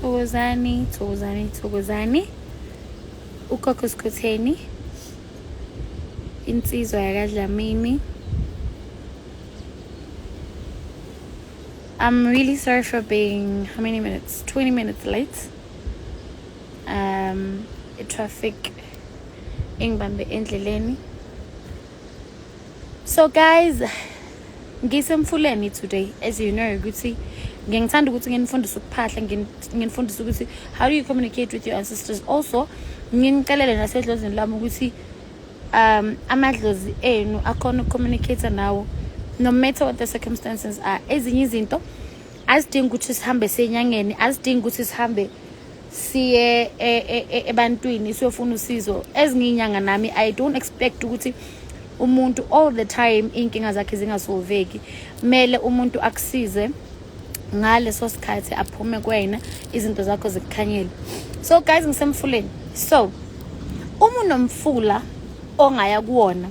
Thokozani, thokozani, thokozani. Ugogo Skhotheni. Insizwa yakadlamini. I'm really sorry for being how many minutes? 20 minutes late. Um, traffic engibambe endleleni. So guys, ngisemfuleni today as you know ukuthi ngengithanda ukuthi nginifundise ukuphahla nginifundise ukuthi how do you communicate with your ancestors also nginicelele nasedlozini lami ukuthi um amadlozi enu akhona ukucommunicate nawo no matter what the circumstances are ezinye izinto azidingi ukuthi sihambe senyangeni azidingi ukuthi sihambe siye e, e, e, ebantwini siyofuna usizo ezinye inyanga nami i don't expect ukuthi umuntu all the time inkinga zakhe zingasolveki mele umuntu akusize ngaleso sikhathi aphume kwena izinto zakho zikukhanyele so guys ngisemfuleni so uma unomfula ongaya kuwona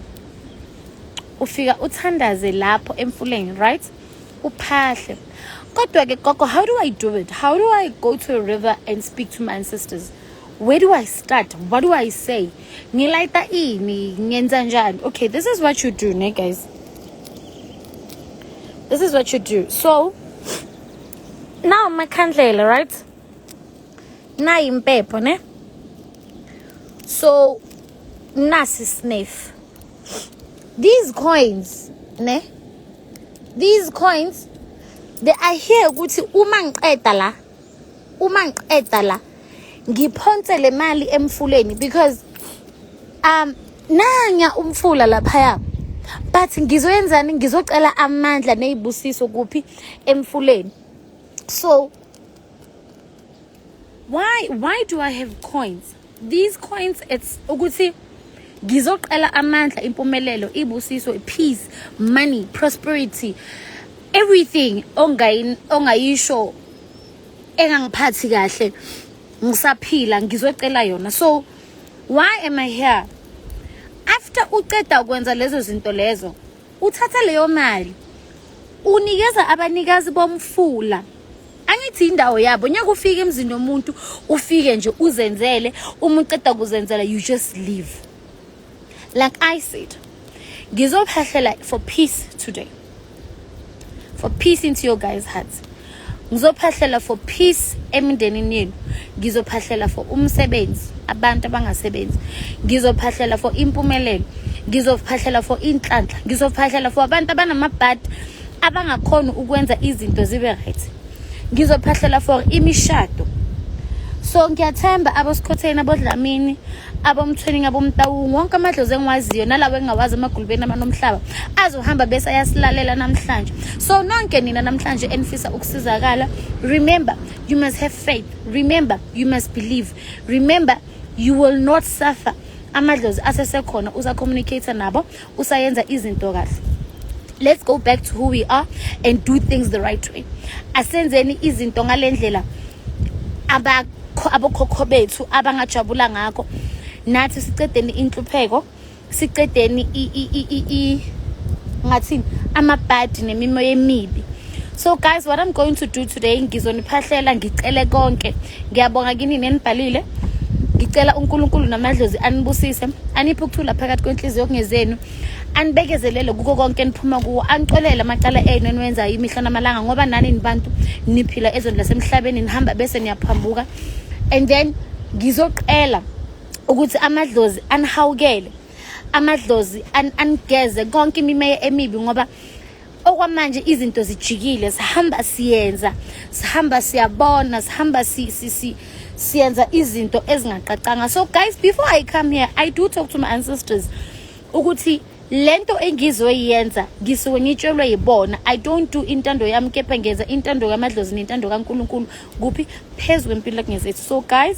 ufika uthandaze lapho emfuleni right uphahle kodwa ke gogo how do i do it how do i go to a river and speak to my ancestors where do i start what do i say ngilayita ini ngenza njani okay this is what you do ne guys this is what you do so now makhandlela right nayi impepho ne so nasi sniff these coins ne these coins they are here ukuthi uma ngiqeda la uma ngiqeda la ngiphonse le mali emfuleni because um nanya umfula laphaya but ngizoyenzani ngizocela amandla nezibusiso kuphi emfuleni so why why do i have coins these coins it's ukuthi ngizoqala amandla impumelelo ibusiso peace money prosperity everything ongayisho engangiphathi kahle ngisaphila ngizocela yona so why am i here after uceda ukwenza lezo zinto lezo uthatha leyo mali unikeza abanikazi bomfula angithi indawo yabo nyaka ufike emzini nomuntu ufike nje uzenzele uma uqeda kuzenzela you just leave like i said ngizophahlela for peace today for peace into your guys hearts ngizophahlela for peace emindenini yenu ngizophahlela for umsebenzi abantu abangasebenzi ngizophahlela for impumelelo ngizophahlela for inhlanhla ngizophahlela for abantu abanamabhadi abangakhona ukwenza izinto zibe right ngizophahlela for imishado so ngiyathemba abosikhotheni abodlamini abomthweningi abomtawungu wonke amadlozi engiwaziyo nalawo engingawazi emagulubeni amanomhlaba azohamba bese ayasilalela namhlanje so nonke nina namhlanje enifisa ukusizakala remember you must have faith remember you must believe remember you will not suffer amadlozi asesekhona uza communicate nabo usayenza izinto kahle let's go back to who we are and do things the right way asenzeni izinto ngalendlela abokhokho bethu abangajabula ngakho nathi sicedeni inhlupheko sicedeni ngathini amabhadi nemimoya emibi so guys what i'm going to do today ngizoniphahlela ngicele konke ngiyabonga kini nenibhalile ngicela uNkulunkulu namadlozi anibusise aniphe ukuthula phakathi kwenhliziyo kungezenu anibekezelele kuko konke niphuma kuwo anicolele amacala enu eniwenzayo imihla namalanga ngoba nani nibantu niphila ezweni lasemhlabeni nihamba bese niyaphambuka and then ngizoqela ukuthi amadlozi anihawukele amadlozi anigeze konke imimeya emibi ngoba okwamanje izinto zijikile sihamba siyenza sihamba siyabona sihamba si, si, si siyenza izinto ezingaqaqanga so guys before i come here i do talk to my ancestors ukuthi lento engizoyenza ngisuke ngitshelwe yibona i don't do intando yami kepha ngenza intando kamadlozi nentando kaNkuluNkulu kuphi phezulu empilo kungezethu so guys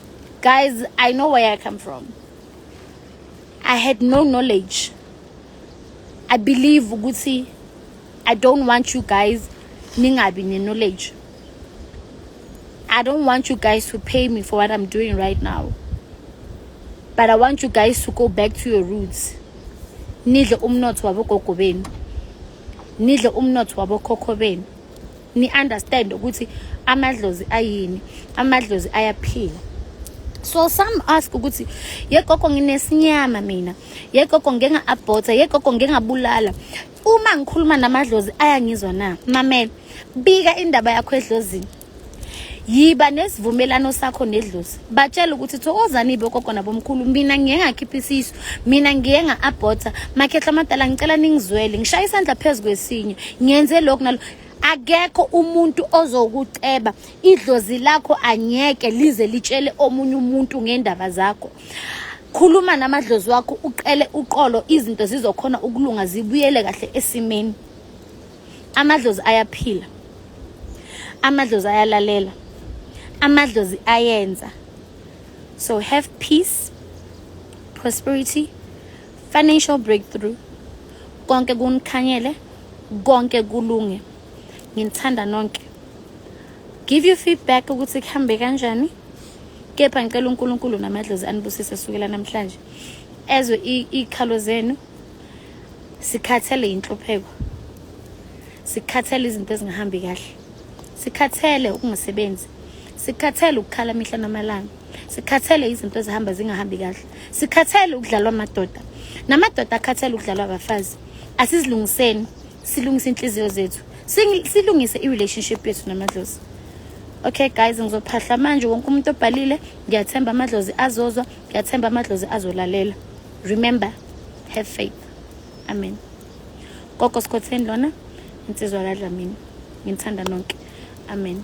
Guys, I know where I come from. I had no knowledge. I believe ukuthi I don't want you guys ningabi ne knowledge. I don't want you guys to pay me for what I'm doing right now. But I want you guys to go back to your roots. Nidle umnotho wabogogo benu. Nidle umnotho wabokhokho benu. ni understand ukuthi amadlozi ayini amadlozi ayaphila so some ask ukuthi yegogo nginesinyama mina yegogo ngeke nga-abhotha yegogo ngeke ngabulala uma ngikhuluma namadlozi ayangizwa na mamela bika indaba yakho edlozini yiba nesivumelano sakho nedlozi batshela ukuthi thokozani bogogo nabomkhulu mina ngiye ngakhipha isisu mina ngiye nga-abhotha makhehla amadala ngicela ningizwele ngishaya isandla phezu kwesinye ngenze lokhu nalo akekho umuntu ozokuceba idlozi lakho anyeke lize litshele omunye umuntu ngendaba zakho khuluma namadlozi wakho uqele uqolo izinto zizokhona ukulunga zibuyele kahle esimeni amadlozi ayaphila amadlozi ayalalela amadlozi ayenza so have peace prosperity financial breakthrough konke kunikhanyele konke kulunge nginithanda nonke give you feedback ukuthi kuhambe kanjani kepha ngicela uNkulunkulu namadlozi anibusise sukela namhlanje ezwe ikhalo zenu sikhathele inhlupheko sikhathele izinto ezingahambi kahle sikhathele ukungasebenzi sikhathele ukukhala mihla namalanga sikhathele izinto ezihamba zingahambi kahle sikhathele ukudlalwa amadoda namadoda akhathele ukudlalwa abafazi asizilungiseni silungise inhliziyo zethu silungise i-relationship yethu namadlozi okay guys ngizophahla manje wonke umuntu obhalile ngiyathemba amadlozi azozwa ngiyathemba amadlozi azolalela remember have faith amen gogo sikhotheni lona insizwa kadlamini nginithanda nonke Amen.